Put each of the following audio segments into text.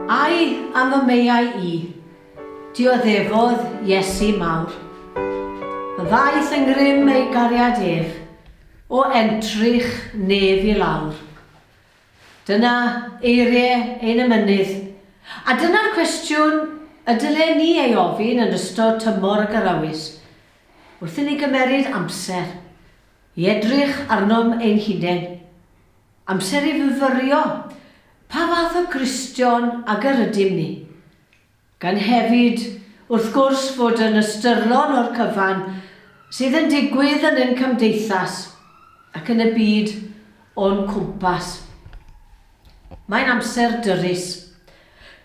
Ai am y meiau i, dioddefodd Iesu mawr. Y ddaeth yn grym ei gariad ef, o entrych nef i lawr. Dyna eiriau ein emynydd, a dyna'r cwestiwn y dylen ni ei ofyn yn ystod tymor y Garawys, Wrth inni gymeryd amser i edrych arnom ein hunain, amser i fyfyrio pa fath o Gristion ag yr ydym ni, gan hefyd, wrth gwrs, fod yn ystyrlon o'r cyfan sydd yn digwydd yn ein cymdeithas ac yn y byd o'n cwmpas. Mae'n amser dyrys.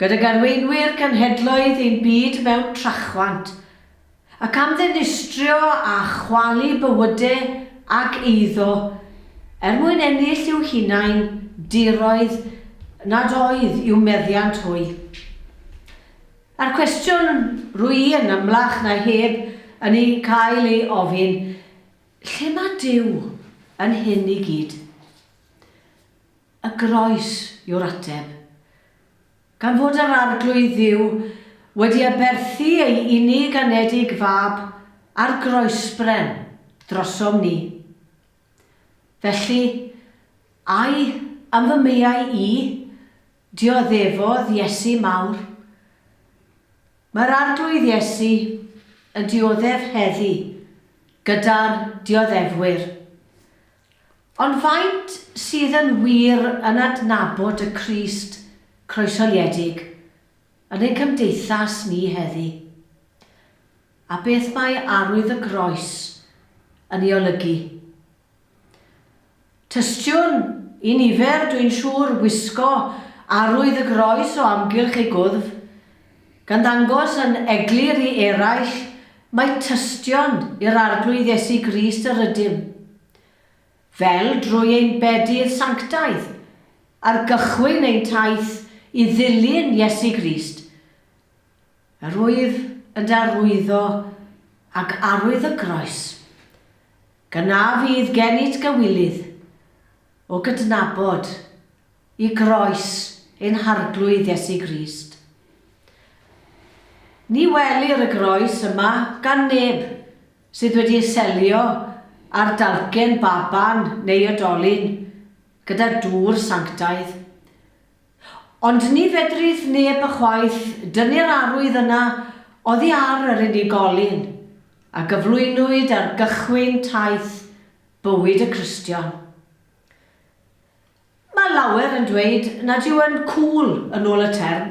Gydag arweinwyr cenhedloedd ein byd mewn trachwant, Ac am ddinistrio a chwalu bywyde ag eiddo, er mwyn ennill i'w hunain diroedd nad oedd i'w meddiant hwy. A'r cwestiwn rwy i yn amlach na heb yn ei cael ei ofyn, lle mae Duw yn hyn i gyd? Y groes yw'r ateb. Gan fod yr Arglwydd Dduw wedi aberthu ei unig anedig Fab ar groesbren drosom ni. Felly, ai am fy mwyau i, dioddefodd Iesu Mawr? Mae'r Arglwydd Iesu yn dioddef heddi gyda'r dioddefwyr. Ond faint sydd yn wir yn adnabod y Crist croeshoeliedig yn ein cymdeithas ni heddi? A beth mae arwydd y Groes yn ei olygu? Tystion i nifer, dwi'n siŵr, wisgo arwydd y Groes o amgylch eu gwddf, gan ddangos yn eglur i eraill mai tystion i'r Arglwydd Iesu Grist yr ydym, fel drwy ein bedydd sanctaidd, ar gychwyn ein taith i ddilyn Iesu Grist, yr wyf yn darlwyddo ag arwydd y groes. Yna fydd gennyt gywilydd o gydnabod i groes ein Harglwydd Iesu Grist. Ni welir y groes yma gan neb sydd wedi ei selio ar dalcen baban neu odolyn gyda dŵr sanctaidd. Ond ni fedrith neb ychwaith dynnu'r arwydd yna oddi ar yr unigolyn a gyflwynwyd ar gychwyn taith bywyd y Cristion. Mae lawer yn dweud nad yw yn 'cŵl', yn ôl y term,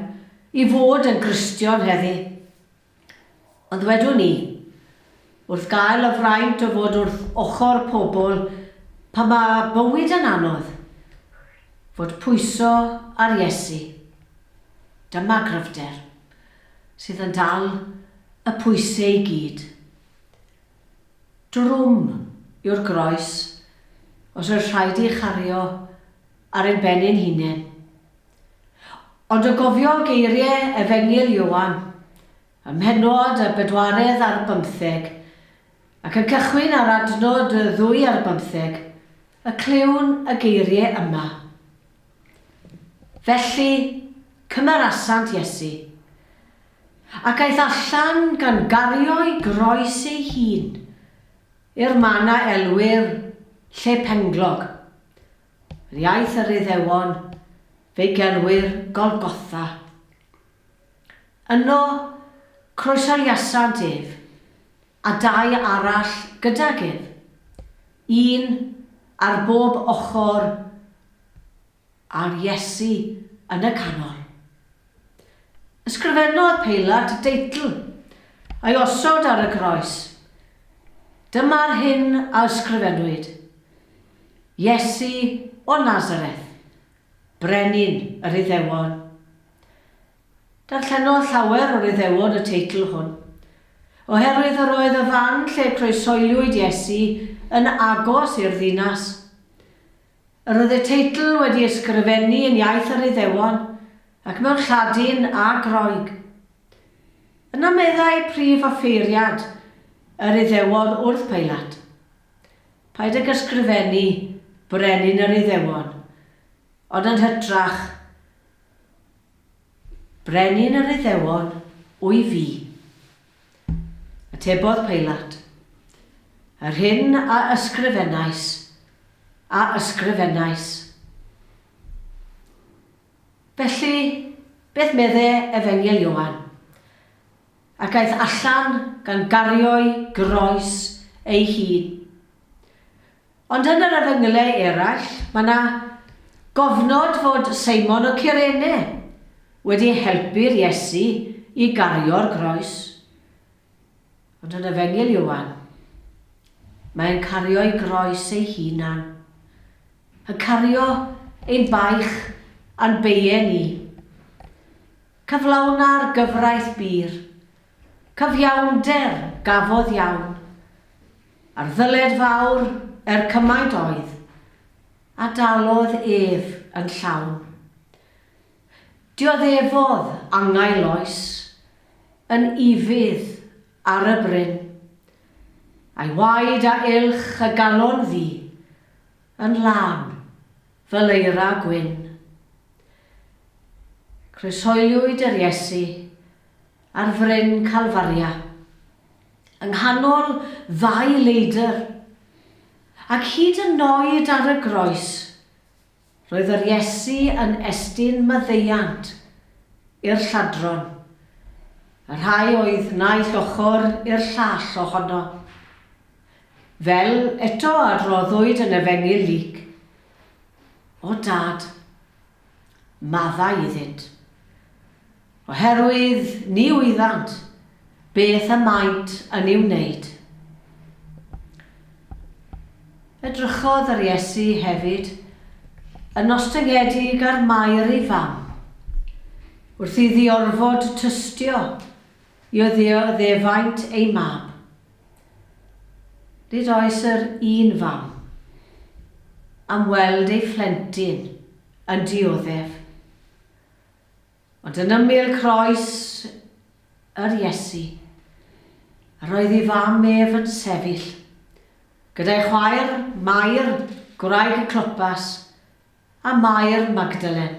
i fod yn Gristion heddi. Ond wedwn i, wrth gael y fraint o fod wrth ochr pobl pan mae bywyd yn anodd, fod pwyso ar Iesu. Dyma gryfder, sydd yn dal y pwyse i gyd. Drwm yw'r groes os oedd rhaid ei chario ar ein ben ein hunain. Ond o gofio geirie Efengyl Ioan, ym mhennod y bedwaredd ar bymtheg, ac yn cychwyn ar adnod y ddwy ar bymtheg, y clywn y geirie yma. Felly, cymerasant Iesu, ac aeth allan gan gario'i groes ei hun, i'r man a elwir Lle Penglog, Yr iaith yr Iddewon, fe'i gelwir Golgotha. Yno croeshoeliasant ef, a dau arall gydag ef, un ar bob ochr a Iesu yn y canol. Ysgrifennodd Peilat y deitl a'i osod ar y groes, Dyma'r hyn a ysgrifennwyd, Iesu o Nazareth, Brenin yr Iddewon. Darllenodd llawer o'r Iddewon y teitl hwn, oherwydd yr oedd y fan lle croesoeliwyd Iesu yn agos i'r ddinas. Yr oedd y teitl wedi ysgrifennu yn iaith yr Iddewon, ac mewn Lladin a Groeg. Yna meddai prif offeiriad yr Iddewon wrth Peilat, Paid ag ysgrifennu Brenin yr Iddewon, ond yn hytrach, Brenin yr Iddewon wy fi. Atebodd Peilat, Yr hyn a ysgrifennais, a ysgrifennais. Felly, beth medde Efengyl Ioan? Ac aeth allan gan gario'i groes ei hun. Ond yn yr efengylau eraill, mae 'na gofnod fod Seimon o Cyrene wedi helpu'r Iesu i gario'r groes. Ond yn efengyl Ioan, mae e'n cario'i groes ei hunan. Yn cario ein baich a'n beie ni. Cyflawna'r gyfraith bur. Cyfiawnder gafodd iawn. A'r ddyled fawr er cymaint oedd, a dalodd ef yn llawn. Dioddefodd angau loes, yn ufudd ar y bryn. A'i waed a uwch y galon fu, yn lân Fel eira gwyn. Croeshoeliwyd yr Iesu ar fryn Calfaria, yng nghanol ddau leidr, ac hyd yn oed ar y groes, roedd yr Iesu yn estyn maddeuant i'r lladron, y rhai oedd naill ochr i'r llall ohono. Fel eto a roddwyd yn Efengyl Luc, O Dad, maddau iddynt, oherwydd ni wyddant beth y maent yn ei wneud. Edrychodd yr Iesu hefyd yn ostyngedig ar Mair ei fam. Wrth iddi orfod tystio i oddeuo ddefaint ei mab, Nid oes yr un fam am weld ei phlentyn yn dioddef, ond yn ymyl croes yr Iesu, yr oedd ei fam ef yn sefyll, gyda'i chwaer, Mair, gwraig y Clopas, a Mair Magdalen.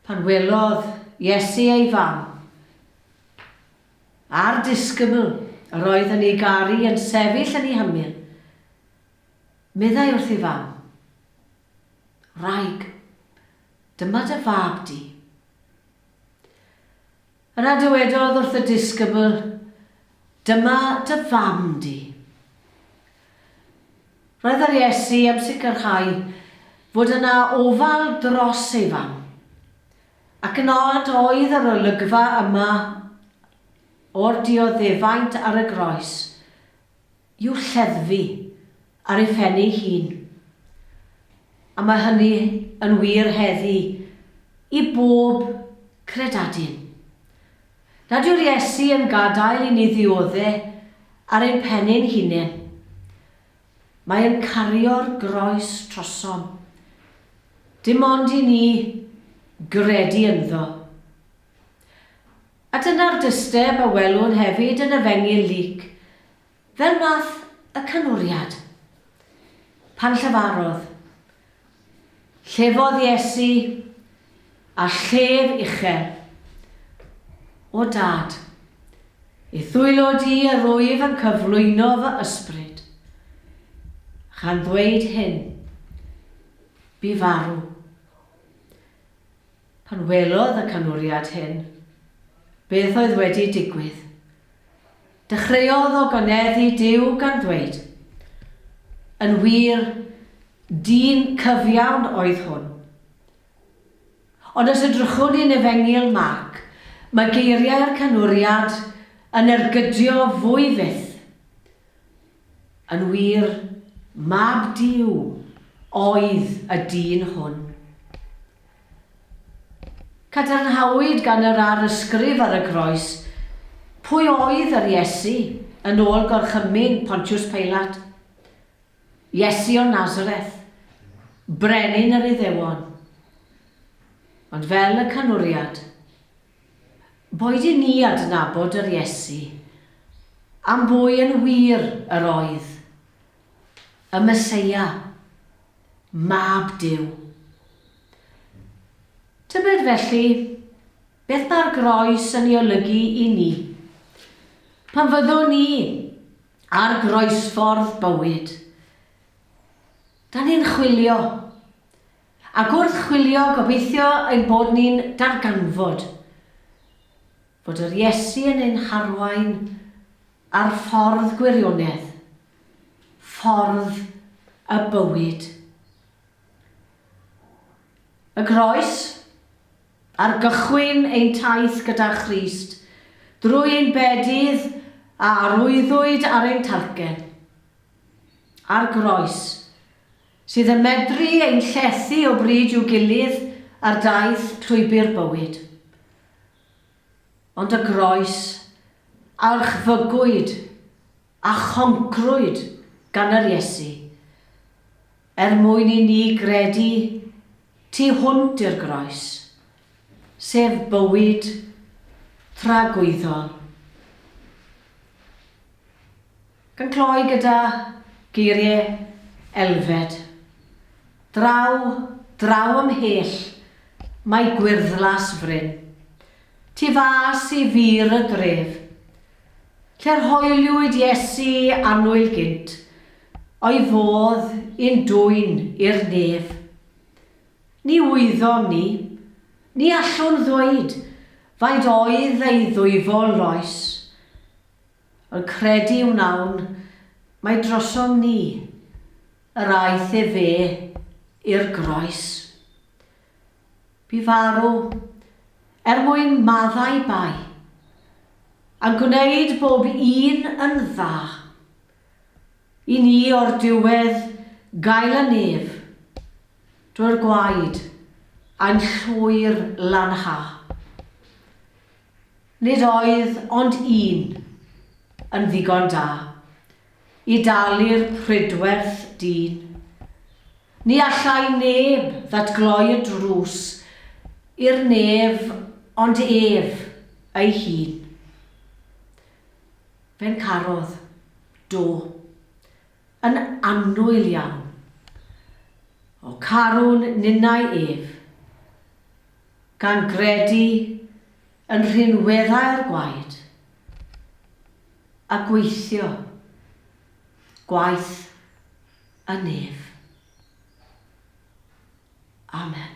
Pan welodd Iesu ei fam, A'r disgybl yr oedd yn ei garu yn sefyll yn ei hymyl, meddai wrth ei fam, Wraig, dyma dy fab di. Yna dywedodd wrth y disgybl, Dyma dy fam di. Roedd yr Iesu am sicrhau fod yna ofal dros ei fam. Ac yn od oedd yr olygfa yma o'r dioddefaint ar y groes i'w lleddfu ar ei phen ei hun. A mae hynny yn wir heddi i bob credadun. Nad yw'r Iesu yn gadael i ni ddiodde ar ein pennyn hunain. Mae yn cario'r groes trosom. Dim ond i ni gredu ynddo. A dyna'r dysteb a welwn hefyd yn Efengyl Luc, fel math y canwriad. Pan llefarodd, Llefodd Iesu a llef uchel. O Dad, i ddwylo di yr wyf yn cyflwyno fy ysbryd. Chan ddweud hyn, bu farw. Pan welodd y canwriad hyn, beth oedd wedi digwydd, Dechreuodd o gyneddu Duw gan ddweud, Yn wir, dyn cyfiawn oedd hwn. Ond os edrychwn ni'n Efengyl Marc, mae geiriau'r Canwriad yn ergydio fwy fyth. Yn wir, Mab Duw oedd y dyn hwn. Cadarnhawyd gan yr arysgrif ar y groes pwy oedd yr Iesu yn ôl gorchymyn Pontiws Peilat, Iesu o Nazareth, brenin yr Iddewon. Ond fel y canwriad, Boed i ni adnabod yr Iesu am bwy yn wir yr oedd, y Meseia, Mab Duw. Tybed felly beth mae'r groes yn ei olygu i ni? Pan fyddwn ni ar groesffordd bywyd, da ni'n chwilio Ac wrth chwilio, gobeithio ein bod ni'n darganfod fod yr Iesu yn ein harwain ar ffordd gwirionedd, ffordd y bywyd. Y Groes, ar gychwyn ein taith gyda Christ, drwy ein bedydd a arwyddwyd ar ein talcen. A'r Groes. sydd yn medru ein llethu o bryd i'w gilydd ar daith llwybr bywyd. Ond y groes a orchfygwyd a choncrwyd gan yr Iesu, er mwyn i ni gredu tu hwnt i'r groes, sef bywyd tragwyddol. Gan gloi gyda geiriau Elfed, Draw, draw ymhell, mae gwyrddlas fryn, Tu fas i fur y dref, Lle'r hoeliwyd Iesu annwyl gynt, O'i fodd i'n dwyn i'r nef. Ni wyddom ni, ni allwn ddweud, Faint oedd ei ddwyfol loes, Wel, credu wnawn, mae drosom ni. Yr aeth efe i'r groes. Bu farw, er mwyn maddau bai, a'n gwneud bob un yn dda. I ni o'r diwedd gael y nef drwy'r gwaed a'n llwyr lanhau. Nid oedd ond un yn ddigon da i dalu'r prydwerth dyn. Ni allai neb ddatgloi y drws i'r nef ond ef ei hun. Fe'n carodd, do, yn annwyl iawn. O carwn ninnau ef. gan gredu yn rhinweddau'r gwaed a gweithio gwaith y nef. Amen.